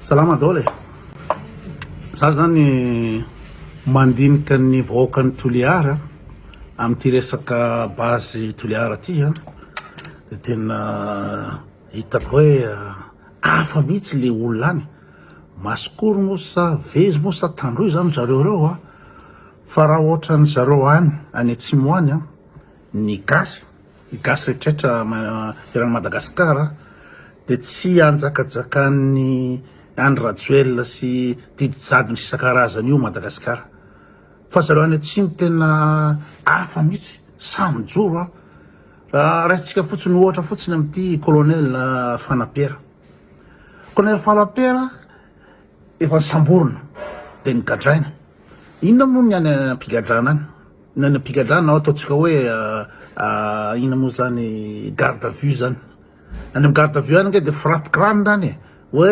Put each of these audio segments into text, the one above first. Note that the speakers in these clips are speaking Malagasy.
Salama daholo e! Za zany mandinika ny vahoakan'i Toliara amin'ity resaka base Toliara ty a, de tena hitako hoe hafa mihitsy le olona any, masikoro moa sa vezo moa sa tandroy zany ry zareo reo a, fa raha ohatran'ny zareo any any atsimo any a, ny gasy Ny gasy rehetrretra eran'i Madagascar dia tsy anjakajakan'ny Andry Rajoelina sy didy jadona sy isan-karazany io Madagascar fa zareo any atsimo tena hafa mihitsy sahy mijoro an! Raisintsika fotsiny ohatra fotsiny amin'ity colonel Fanapera colonel Fanapera efa nisamborina dia nigadraina inona moa ny any am-pigadrana any Nanam-pigadrana aho, ataontsika hoe inona moa zany garde à vue zany, any am garde à vue any nge de frappe crane zany e, hoe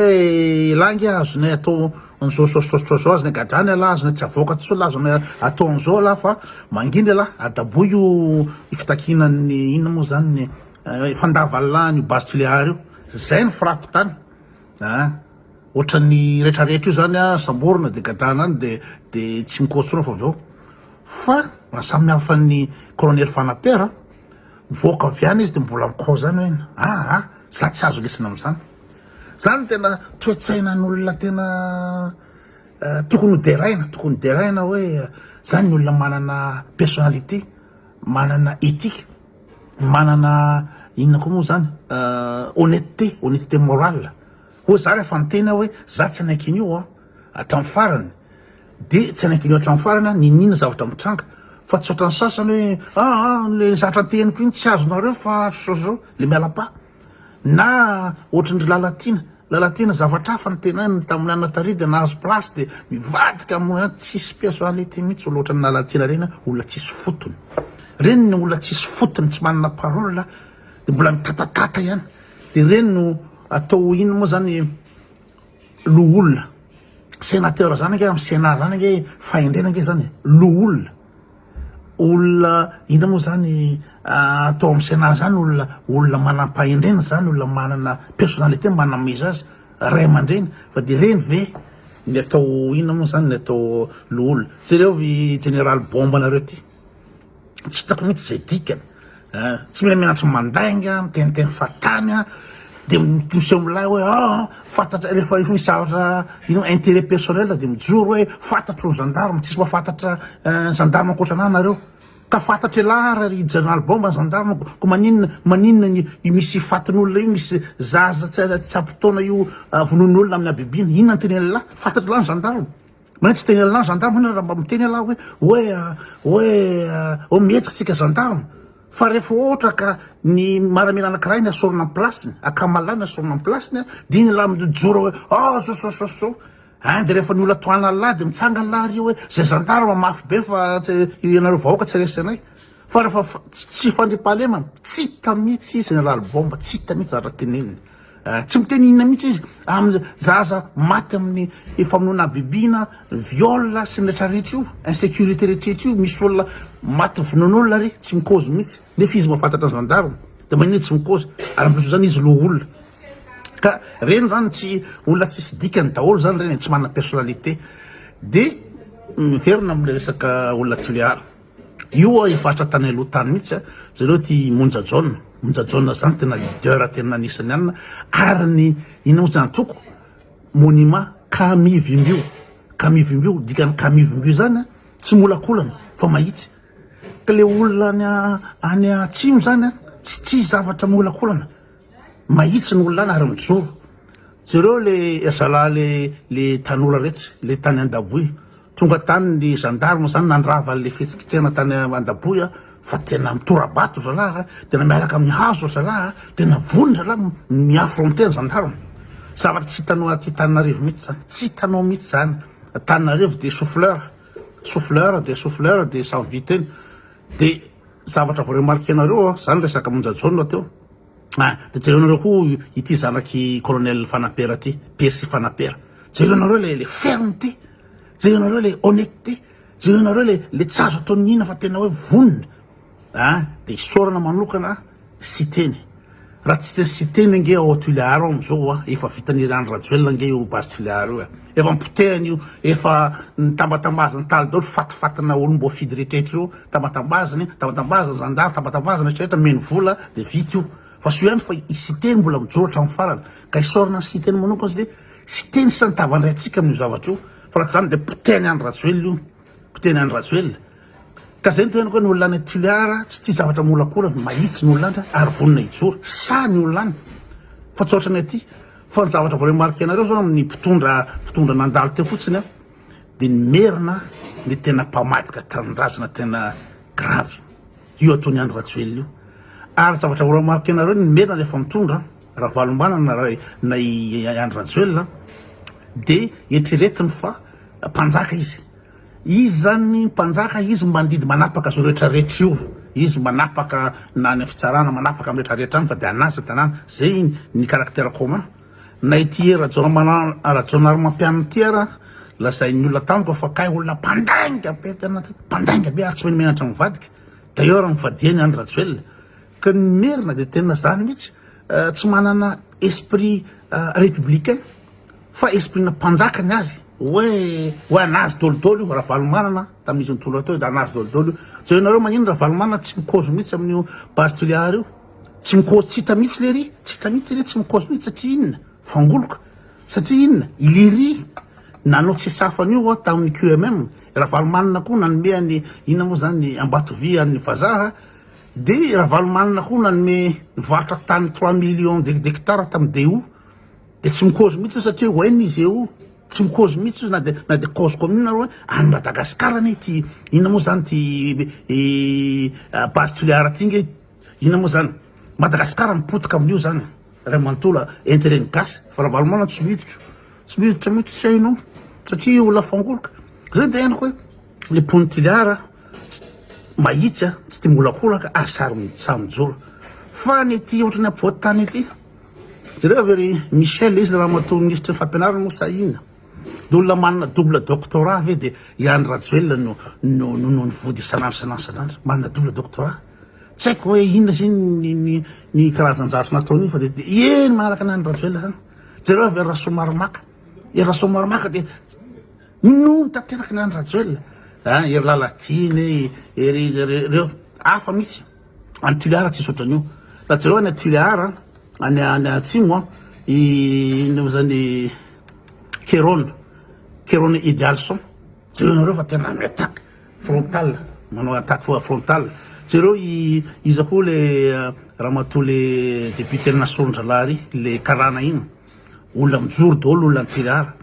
elah nge azonay atao an'zao zao zao zao zao, azonay gadrana elah, azonay tsy avoaka tsony elah, azonay atao an'zao elah fa mangina elah, adaboy io fitakianan'ny inona moa zany ny fandavan'lah an'io base Tuléar io, zay ny frappe tany. Aa! Ohatran'ny retraretra io zany a, samborina de gadana any de de tsy mikoa tsony fa avy eo. Fa raha samy hafa ny Colonel Fanaper a, mivoaka avy any izy de mbola mikoa zany hoe aa! za tsy azo lesona amzany. Zany no tena toe-tsainan'olona tena tokony ho deraina, tokony ho deraina hoe zany ny olona manana personnalité, manana ethique. Manana inona koa moa zany honnêteté, honnêteté morale, hoy za rehefa miteny aho hoe za tsy hanaiky an'io an hatramin'ny farany de tsy hanaiky an'io hatramin'ny farany aho n'inon'inona zavatra mitranga fa tsy ohatran'ny sasany hoe aa le zatra teniko iny tsy azonareo fa le miala pas. na ohatran'dry Lalatiana, Lalatiana zavatra hafa ny tenany tamin'ny Anna Taridy nahazo place dia mivadika amin'ny hoe tsisy personnalité mihitsy olona ohatran'i Lalatiana ireny an, olona tsisy fotony ireny ny olona tsisy fotony tsy manana parole dia mbola mitatatata ihany dia ireny no atao ho inona moa izany loholona, senateur izany ange amin'ny senat izany ange fahendrena ange izany e, loholona. olona inona moa zany atao amin'ny Sénat zany olona olona manam-pahendrena zany olona manana personnalité manam-meza azy ray aman-dreny fa de reny ve ny atao inona moa zany ny atao loholona jereo i général bombe anareo ty tsy hitako mihitsy zay dikany Tsy mila miantso mandainga miteniteny fahatany a, de miseho milay hoe ah fantatra rehefa misy zavatra ino intérêt personnel de mijoro hoe fantatro ny gendarme, tsisy mahafantatra ny gendarme ankoatra anah nareo, ka fantatra elah ara ry jeneraly bomba ny gendarme, ko maninona maninona ny io misy fatin'olona io, misy zaza tsy ampy taona io vonoin'olona amin'ny habibiana, inona no tenen'ilah, fantatr'ilah ny gendarme. Maintsy teny anlah gendarme enao raha mba miteny alah hoe hoe hoe oh mihetsika tsika gendarme fa rehefa ohatra ka ny maramila anakiray ny asorina am place-ny akamalay ny asorina am place-ny a dia iny lah mijoro hoe oh sosososo hein dia rehefa ny olona tohananlah dia mitsangana lah ry hoe zay gendarme mafy be fa ianareo vahoaka tsy resinay Fara fa tsy fandriampahalemana, tsy hita mihitsy izy nalalo bomba, tsy hita mihitsy zavatra teneniny. Eh, tsy miteny inona mihitsy izy amin'ny zaza maty amin'ny famonoana habibiana, viol sy ny rehetra rehetra io, insécurité rehetra rehetra io, misy olona maty vonoan'olona re, tsy mikozy mihitsy. Nefa izy mahafantatra ny gendarme, dia maninona tsy mikozy? Ary ampian'izay zany izy loholona. Ka reny zany tsy olona tsisy dikany daholo zany reny, tsy manana personnalité. Dia miverina amin'ilay resaka olona Tulear. Io oa efa hatra tany aloha tany mihitsy a, jereo ity Monja Jaona, Monja Jaona zany tena leader tena anisan'ny anina ary ny inona moa zany toko monument Kamivimbio, Kamivimbio dikany Kamivimbio zany a tsy molakolana fa mahitsy ka le olona any any atsimo zany a tsy tia zavatra molakolana. mahitsy ny olona any ary mijoro jereo le zalahy le le tanora retsy le tany andaboy tonga tany ny gendarme zany nandrava le fitsikitsena tany andaboy a fa tena mitorabato zalahy tena miaraka amin'ny hazo zalahy tena vony zalahy miaffronté ny gendarme zavatra tsy hitanao aty Tananarivo mihitsy zany tsy hitanao mihitsy zany Tananarivo de souffleur souffleur de souffleur de sans vie teny de zavatra vao remarquer-nareo zany resaka monja jaune teo Ah, de jereo nareo koa ity zanaky colonel fanapera ty, persy fanapera. Jereo nareo le le ferme ty. Jereo nareo le honnête ty. Jereo nareo le le tsy azo ataon'ny ina fa tena hoe vonona. Ah, de isaorana manokana Siteny. Raha tsy teny Siteny ange ao Tuléar ao amizao ah, efa vitan'i Andry Rajoelina ange io base Tuléar io eh. Efa nipotehina io, efa nitambatambazana talo daholo, fatifatina olom-boafidy rehetra eto zao, tambatambaziny, tambatambazana ny zandary, tambatambazana rehetra rehetra, nomeny vola dia vita io. Fa soa ihany fa i Siteny mbola mijoro hatramin'ny farany, ka isaorana an'i Siteny manokana satria Siteny sisa nitavandray antsika amin'io zavatra io, fa raha tsy izany dia potehin'i Andry Rajoelina io. Mpiteny any Rajoelina. Ka zay ny tenako hoe ny olona any Tuléar tsy tia zavatra miolakolana, mahitsy ny olona any ary vonona hijoro, sahy ny olona any. Fa tsy ohatran'ny aty. Fa ny zavatra voaremarque anareo zao amin'ny mpitondra mpitondra nandalo teo fotsiny dia ny merina ny tena mpamadika tanindrazana tena grave. Io ataony any Rajoelina io. Ary zavatra voaremarque anareo ny merina rehefa mitondra Ravalombana na na i Andry Rajoelina dia eritreretiny fa Mpanjaka izy. Izy zany mpanjaka, izy mbandidy manapaka zo rehetra rehetra io, izy manapaka na any am fitsarana, manapaka am rehetra rehetra any fa de anazy ny tanàna, zay ny caractère commun, na ity Rajaonamanana Rajaonarimampianina ity ara lazain'ny olona tamiko fa kay olona mpandainga be tena mpandainga be ary tsy menomenatra ny vadika, d'ailleurs nivadiany any Rajoelina, Ka ny merina dia tena zany mihitsy tsy manana esprit républicain fa esprit na mpanjaka ny azy hoe hoe anazy dolo dolo io ravalomanana tamin'izy nitondra teo dia anazy dolo dolo io jereo nareo manino ravalomanana tsy mikozo mihitsy amin'io base tuliar io tsy mikozo tsy hita mihitsy lery tsy hita mihitsy lery tsy mikozo mihitsy satria inona fangoloka satria inona ilery nanao tsy safan'io ao tamin'ny QMM ravalomanana koa nanome any inona moa zany ambatovia an'ny vazaha Dia i Ravalomanana koa nanome nivarotra tany trois millions de d'hectares tamin'i DO, dia tsy mi-cause mihitsy satria hoe ny GO tsy mi-cause mihitsy izy na dia na dia cause commune ary hoe any Madagascar anie ity inona moa izany ity base Toliara ity nge inona moa izany, Madagascar mipotika amin'io izany ray manontolo a, intérêt ny gasy fa Ravalomanana tsy miditra tsy miditra mihitsy tsy hainao satria olona fangoroka, izay dia henoko hoe le mponin'i Toliara. Tsy mahitsy a, tsy tia miholakolaka ary saro sahy mijoro fa ny ity ohatry ny apovoan-tany ity. Jereo ve ry Michel izy ramatoa minisitry ny fampianarana moa sa inona? Dia olona manana double doctorat ve dia i Andry Rajoelina no no no no vody isan'andro isan'andro isan'andro? Manana double doctorat. Tsy haiko hoe inona izay ny ny ny karazan-jafy nataon'io fa dia dia eny manaraka an'i Andry Rajoelina izany. Jereo ve Rasoamaromaka? I Rasoamaromaka dia Inona no tanteraka ny an'i Rajoelina a, ery Lalatiana e, ery izy ery ireo, hafa mihitsy. Any Toliara tsisy ohatran'io. Raha jereo any Toliara, any any atsimo a, i inona moa izany Kerona, Kerona Idealson. Jereo anareo fa tena mi-attaque frontal, manao attaque fo- frontal. Jereo i iza koa le ramatoa le député-n'i Nasoron-dralahy ry, le karana iny. Olona mijoro daholo olona an-tulara.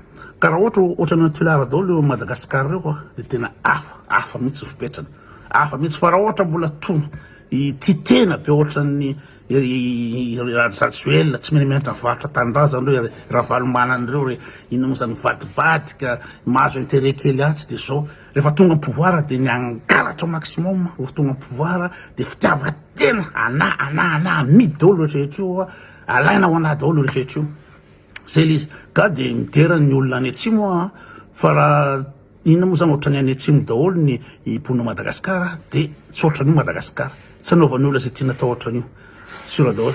Karaha ohatra ohatran'ny an-tulara daholo eo Madagascar ireo a. Dia tena hafa, hafa mihitsy ny fipetrany. Hafa mihitsy fa raha ohatra mbola toa tia tena be ohatran'ny Rajoelina tsy mihamihantra varotra tanindrazana ireo ry Ravalomanana ireo ry inona moa izany mivadibadika mahazo intérêt kely atsy dia izao. Rehefa tonga am-pouvoir dia ny hangalatra maximum rehefa tonga am-pouvoir dia fitiavan-tena anà, anà, anà amidy daholo rehetra rehetra io a. Alaina ao anaty daholo io rehetra io. Zay le izy. Ga de midera ny olona any atsimo a. Fa raha inona moa zany ohatrany any atsimo daholo ny mponina Madagasikara de tsy ohatran'io Madagasikara. Tsy anaovan'ny olona zay tiana atao ohatran'io. Sura daholo.